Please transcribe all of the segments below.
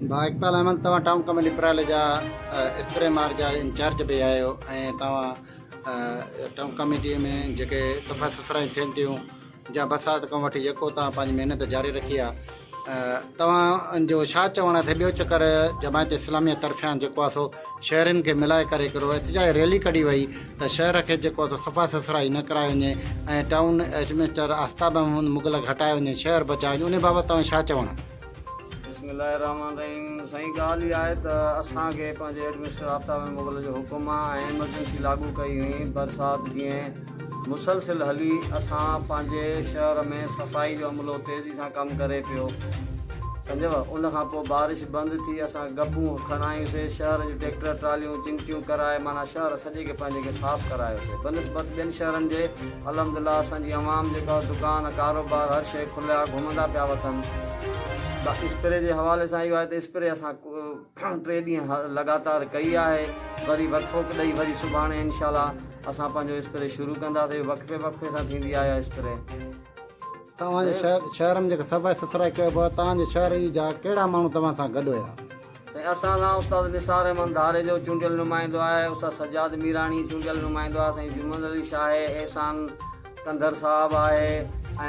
ڀاء اقبال احمد توهان town committee پرالي جا استري مار جا انچارج به آهيو ۽ توهان ٽائون ڪميٽي ۾ جيڪي صفا سٿرايون ٿين ٿيون جا برسات کان وٺي يڪو توهان پنهنجي محنت جاري رکي آهي توهان جو ڇا چوڻ آهي ٻيو چڪر جماعت اسلامي طرفان جيڪو آهي سو شهرين کي ملائي ڪري هڪڙو احتجاج ريلي ڪڍي وئي ته شهر کي جيڪو آهي سو صفا سٿرائي نه ڪرائي وڃي ۽ ٽائون ايڊمنسٽر آفتاب احمد مغلق هٽايو وڃي شهر بچايو وڃي ان بابت توهان ڇا چوڻ بسم الله الرحمن الرحيم سائين ڳالهه اها آهي ته اسان کي پنهنجي ايڊمنسٽر آفتاب احمد مغل جو حڪم آ ۽ ايمرجنسي لاڳو ڪئي هئي برسات جيئن مسلسل هلي اسان پنهنجي شهر ۾ صفائي جو عملو تيزي سان ڪم ڪري پيو سمجهيو ان کان پوء بارش بند ٿي اسان گبون کڻايوسي شهر جون ٽيڪٽر ٽراليون چمٽيون ڪرائي معنيٰ شهر سڄي کي پنهنجي کي صاف ڪرايوسي بنسبت ٻين شهرن جي الحمدلله اسان جي عوام جيڪا دڪان ڪاروبار هر شئي کليا گهمندا پيا وتن اسپري جي حوالي سان اهو آهي ته اسپري اسان ٽي ڏينهن لڳاتار ڪئي آهي وري وقفو ڏئي وري سڀاڻي انشاء الله اسان پنهنجو اسپري شروع ڪنداسين وقفي وقفي سان ٿيندي آهي اسپري توهان جي شهر شهر ۾ جيڪا صفائي سٿرائي ڪيو پيو آهي توهان جي شهر جي جا ڪهڙا ماڻهو توهان سان گڏ هيا. سائين اسان سان استاد نثار احمد ڌاري جو چونڊيل نمائندو آهي استاد سجاد ميراڻي چونڊيل نمائندو آهي سائين جمن علي شاهه آهي احسان ڪنڌر صاحب آهي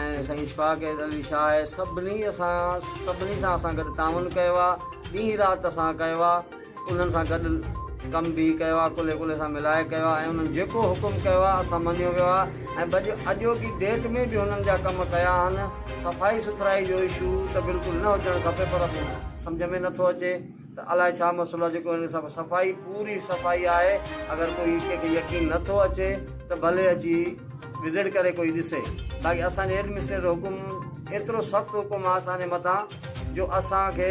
۽ سائين اشفاق علي شاهه آهي سڀني اسان سان سڀني سان اسان گڏ تعاون ڪيو آهي ڏينهن رات اسان ڪيو آهي انهن سان گڏ ڪم به ڪيو آهي، ڪلهي ڪلهي سان ملائي ڪيو آهي ۽ انهن جيڪو حڪم ڪيو آهي اسان مڃيو ويو آهي ۽ بج اڄوڪي ڊيٽ ۾ به هنن جا ڪم ڪيا آهن، صفائي سٿرائي جو اشو ته بلڪل نه هجڻ کپي پر سمجهه ۾ نٿو اچي ته الائي ڇا مسئلو آهي جيڪو هن سڀ صفائي پوري صفائي آهي اگر ڪوئي ڪنهن کي يقين نٿو اچي ته ڀلي اچي وزٽ ڪري ڪوئي ڏسي باقي اسان جي ايڊمنسٽريٽر حڪم ايترو سخت حڪم آهي اسان جي مٿان جو اسان کي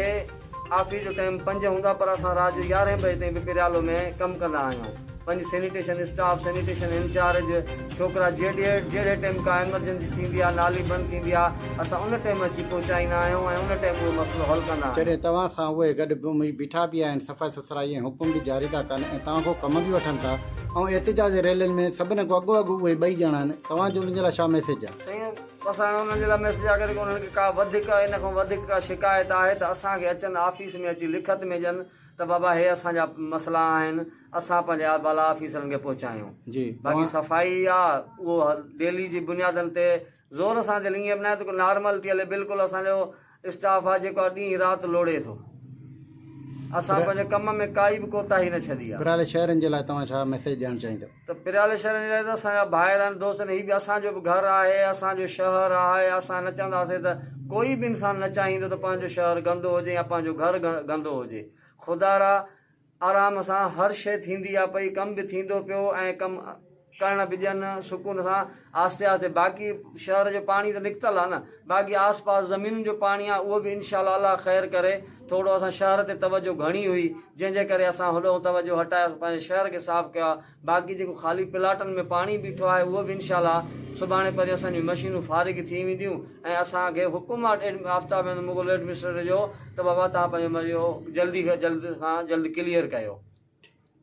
آفيس جو ٽائيم پنج هوندا پر اسان رات جو يارهين بجي تائين به پريالو ۾ ڪم ڪندا آهيون. پنج سينيٽيشن اسٽاف، سينيٽيشن انچارج، ڇوڪرا جهڙي جهڙي ٽائيم ڪا ايمرجنسي ٿيندي آهي، نالي بند ٿيندي آهي، اسان ان ٽائيم اچي پهچائيندا آهيون ۽ ان ٽائيم اهو مسئلو حل ڪندا آهيون. جڏهن توهان سان اهي گڏ بيٺا به آهن، صفائي سٿرائي ۽ حڪم به جاري ٿا ڪن ۽ توهان کان ڪم به وٺن ٿا ۽ احتجاجي ريلين ۾ سڀني کان اڳو اڳ اهي ٻئي ڄڻا آهن، توهان جو انهن جي لاء ڇا ميسيج آهي؟ سائين بس هاڻي انهن جي لاء ميسج آ ڪري انهن کي ڪا وڌيڪ ان کان وڌيڪ ڪا شڪايت آهي ته اسان کي اچن آفيس ۾ اچي لکت ۾ ڏين ته بابا هي اسان جا مسئلا آهن اسان پنهنجي بالا آفيسرن کي پهچايون باقي صفائي آ اهو ڊيلي جي بنيادن تي زور سان هلي ائين به ناهي ته ڪو نارمل ٿي هلي بلڪل اسان جو اسٽاف آ جيڪو ڏينهن رات لوڙهي ٿو اسان پنهنجي ڪم ۾ ڪائي به ڪوتاهي نه ڇڏي آ. پريالي شهرين جي لاء توهان ڇا ميسيج ڏيڻ چاهيندو. ته پريالي شهرين جي لاء ته اسان جا ڀائر آهن دوست آهن هي به اسان جو به گهر آهي اسان جو شهر آهي اسان نه چهنداسين ته ڪوئي به انسان نه چاهيندو ته پنهنجو شهر گندو هجي يا پنهنجو گهر گندو هجي خدارا آرام سان هر شيء ٿيندي آ پئي، ڪم به ٿيندو پيو ۽ ڪم ڪرڻ به ڏين سڪون سان آهستي آهستي باقي شهر جو پاڻي ته نڪتل آ نه باقي آس پاس زمينن جو پاڻي آ اهو به انشاء الله الله خير ڪري ٿورڙو اسان شهر تي توجه گهڻي هئي جنهن جي ڪري اسان هوڏئون توجه هٽائي پنهنجي شهر کي صاف ڪيو آ. باقي جيڪو خالي پلاٽن ۾ پاڻي بيٺو آهي اهو به انشاء الله سڀاڻي پرينء اسان جون مشينون فارغ ٿي وينديون ۽ اسان کي حڪم آهي آفتاب احمد مغل ايڊمنسٽريٽر جو ته بابا تهان پنهنجو جلدي کان جلد کان جلد ڪليئر ڪيو.